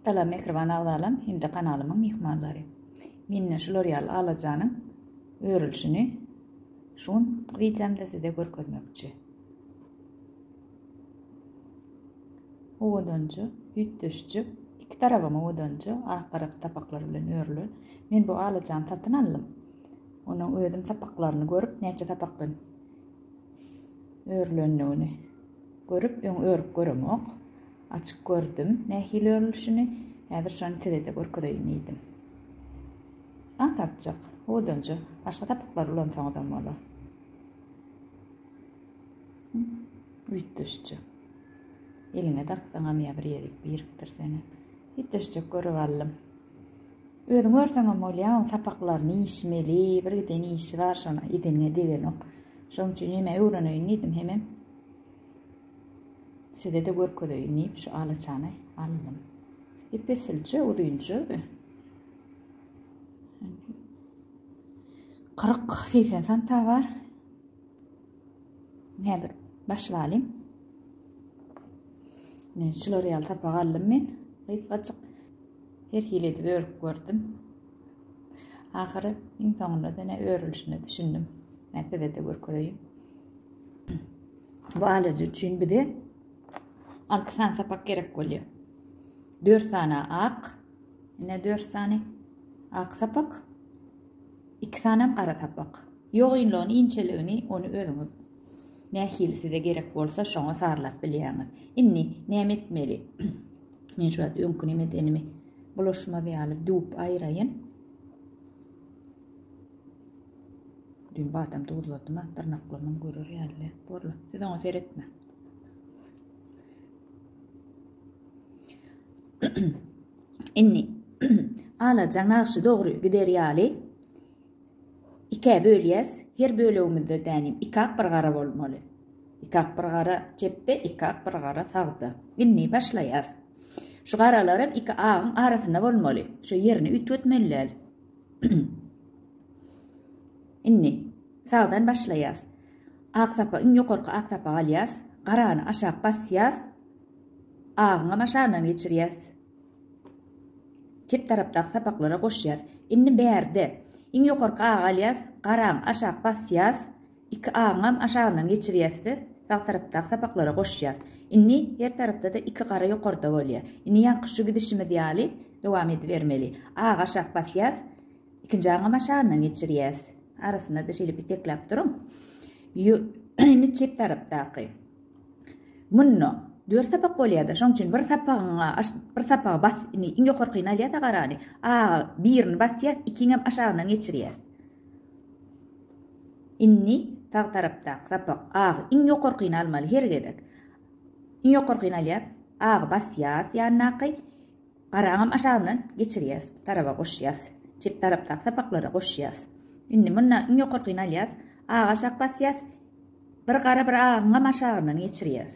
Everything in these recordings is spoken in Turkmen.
Salam mähriban agzalam hem-de kanalymyň myhmanlary. Mende şular ýaly alajanyň örülşini şu gün wideomda size görkezmekçi. Owadanjy, üýtgeşje, iki tarabam owadanjy, ak garak sapaklar bilen örülen. Men bu alajany satyn aldym. Onuň özüm sapaklaryny görüp, näçe sapakdan örülendigini görüp, öň örüp göremok. Açyp gördüm nähili örülişini, häzir şony size-de görkezeýin diýdim. Aňsatjak, howdanjy, başga sapaklar ulansaňyzam bolar. Üýtgeşje. Eliňe daksaňam ýa bir ýerik birikdirseňem. Üýtgeşjek görüp aldym. Özüň örseňem bolýar, oň sapaklaryny işmeli, bir giden işi bar, şony edeniňe degenok. Şonuň üçin hemä öwreneýin diýdim, hemem Size-de görkezeýin diýip, şu alaçany aldym. Ep-esilje uzynja we kyrk segsen santa bar. Häzir başyp alyň. Men şular ýaly sapak aldym men. Gysgajyk her hili edip örüp gördüm. Ahyry iň soňunda dene örülişine düşündim. Nätede de görkezeýin. Balaca üçin bize alty sany sapak gerek bolýar. Dört sany ak, ine dört sany ak sapak, iki sanem gara sapak. Ýogynlygyny, inçeligini ony özüňiz nähili size gerek bolsa şoňa sazlap bilýäňiz. Indi näme etmeli? Men şu wagt öňki näme edenimi bulaşmaz ýaly düwüp aýraýyn. Düýn badam duzladym-a, dyrnaklarynam görer ýaly borla. Siz oňa seretmäň. Indi alajaň nagşy dogry gider ýaly ikä bölýäs. Her bölegimizde dänim ikak bir gara bolmaly. Ikak bir gara çepde, ikak bir gara sagda. Indi başlaýas. Şu garalaram iki agyň arasynda bolmaly. Şo ýerini üýtgetmeli däl. Indi sagdan başlaýas. Ak sapa iň ýokarky ak sapa alýas. Garany aşak basýas. Agyňam aşagyndan geçirýäs. Çep tarapdaky sapaklara goşýas. Indi bärde iň ýokarky agy alýas. Garany aşak basýas. Iki agyňam aşagyndan geçirýäs-de, sag tarapdaky sapaklara goşýas. Indi her tarapda-da iki gara ýokarda bolýar. Indi ýaňky şu gidişimiz ýaly dowam edibermeli. Agy aşak basýas, ikinji agyňam aşagyndan geçirýäs. Arasynda-da şeýle bitekläp duruň. Ýo, indi çep tarapdaky. Munda dört sapak bolýar-da, şonuň üçin bir sapagyňa, bir sapagy bas, indi iň ýokarkyny alýas agarany. Agy birini basýas, ikiňem aşagyndan geçirýäs. Indi sag tarapdaky sapak agy iň ýokarkyny almaly her gezek. Iň ýokarkyny alýas, agy basýas ýandaky, garaňam aşagyndan geçirýäs, bu taraba goşýas, çep tarapdaky sapaklara goşýas. Indi munda iň ýokarkyny alýas, agy aşak basýas, bir gara bir agyňam aşagyndan geçirýäs.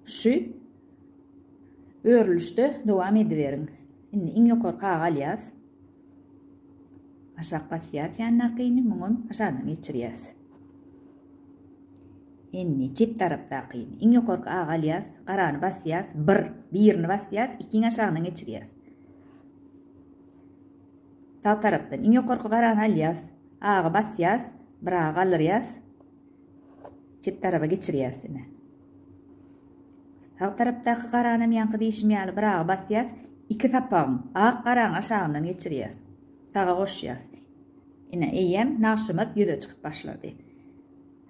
Şu örülişde dowam ediberiň. Indi iň ýokarky agy alýas, Aşak basýas ýandakyny muňam aşagdan geçirýäs. Indi çep tarapdakyny iň ýokarky agy alýas, garany basýas, bir, birini basýas, ikiň aşagyndan geçirýäs. Sag tarapdan iň ýokarky garany alýas, agy basýas, bir agy galdyrýas. Çep tarapa geçirýäs ine. Sag tarapdaky garanam ýaňky diýşim ýaly bir aga basýas, iki sapagyň, ak garaň aşagyndan geçirýäs. Saga goşýas. Ine, eýýäm nagşymyz ýüze çykyp başlady.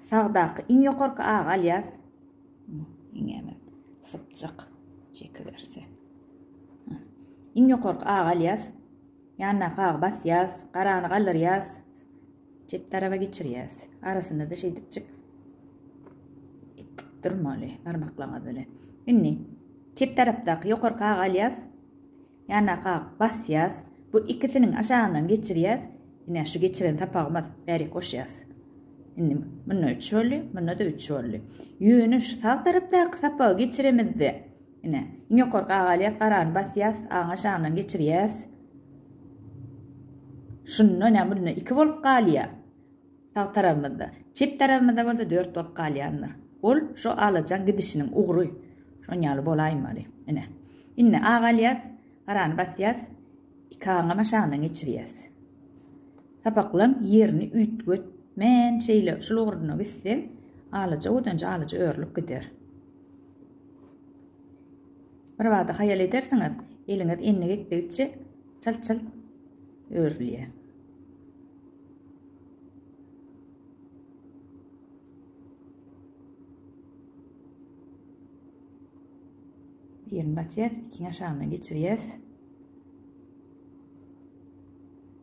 Sagdaky iň ýokarky agy alýas. Iňňäme sypjak çekiberse. Iň ýokarky agy alýas. Ýandaky agy basýas, garany galdyrýas. Çep taraba geçirýäs. Arasynda-da şeýdipjik itdip durmaly barmaklaňyz bilen. Indi çep tarapdaky ýokarky agy alýas. Ýandaky agy basýas. Bu ikisiniň aşagyndan geçirýäs. Ine şu geçiren sapagymyz bärik goşýas. Indi munda 3 boldy, munda-da 3 boldy. Ýöne şu sag tarapdaky sapagy geçiremizde Ine, iň ýokarky aga alýas, garany basýas, aňa şandan geçirýäs. Şunda näme bolýar? Iki bolup galýar. Sag tarabymyzda. Çep tarabymyzda bolsa dört bolup galýandyr. Ol şu alajan gidişiniň ugry. Şon ýaly bolaýmaly. Ine. Indi aga alýas, garany basýas, iki aňama şandan geçirýäs. Sapaklaň ýerini üýtget. Men şeýle şul ugruna gitseň, alaja odanja alaja örülip gider. Birbada haýal edersiňiz, eliňiz endik etdigiçe çalt-çalt örülýär. Birini basýas, ikini aşagyndan geçirýäs.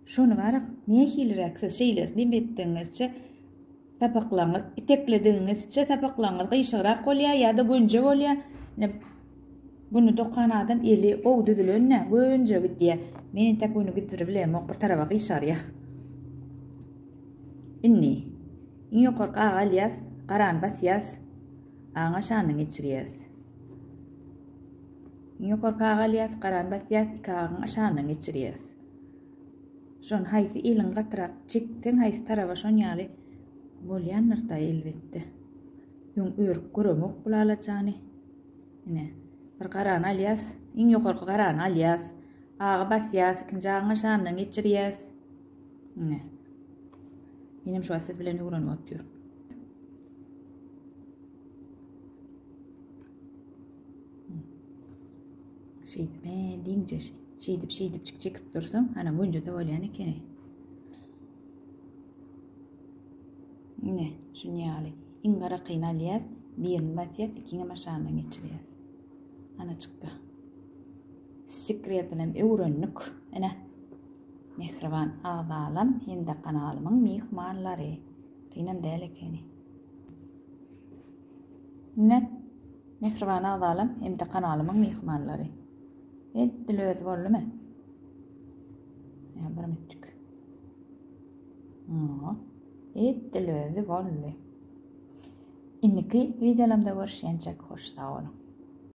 Şony barak nähiliräk siz şeýlesini etdigiňizçe sapaklaryňyz, itekledigiňizçe sapaklaryňyz gyşygrak bolýar ýa-da gönje bolýar. Ine, güni dokan adam eli gowy düzülende gönje gidýär. Men entek güni gidiri bilemok, bir taraba gyşarýar. Indi iň ýokarky agy alýas, garany basýas, aňa şanyny geçirýäs. Iň ýokarky agy alýas, garany basýas, iki agyň şanyny geçirýäs. Şony haýsy eliň gatyrak çekseň haýsy taraba şon ýaly bolýandyr-da elbetde. Öň örüp göremok bu lalajany. Ine, bir garany alýas, iň ýokarky garany alýas. Agy basýas, ikinji agyňa şandan geçirýäs. Ine. Menem şu siz bilen öwrenip otyryn. Şeýdip, he, diňje şeýdip-şeýdipjik çekip dursaň, ana günje-de bolýan ekeni. Ine, şun ýaly. Iň garakyny alýas, birini basýas, ikiňem aşagyndan geçirýäs. Ana çykdy. Sekretinem öwrendik. Ene. Mehriban agzalam hem-de kanalymyň myhmanlary. Kynam däl ekeni. Minnat mähriban agzalam hem-de kanalymyň myhmanlary. Edil özi boldumy? Ýa bir mitçik. Ýa, edil özi boldy. Indiki wideolarymda görüşýänçek hoş sag boluň.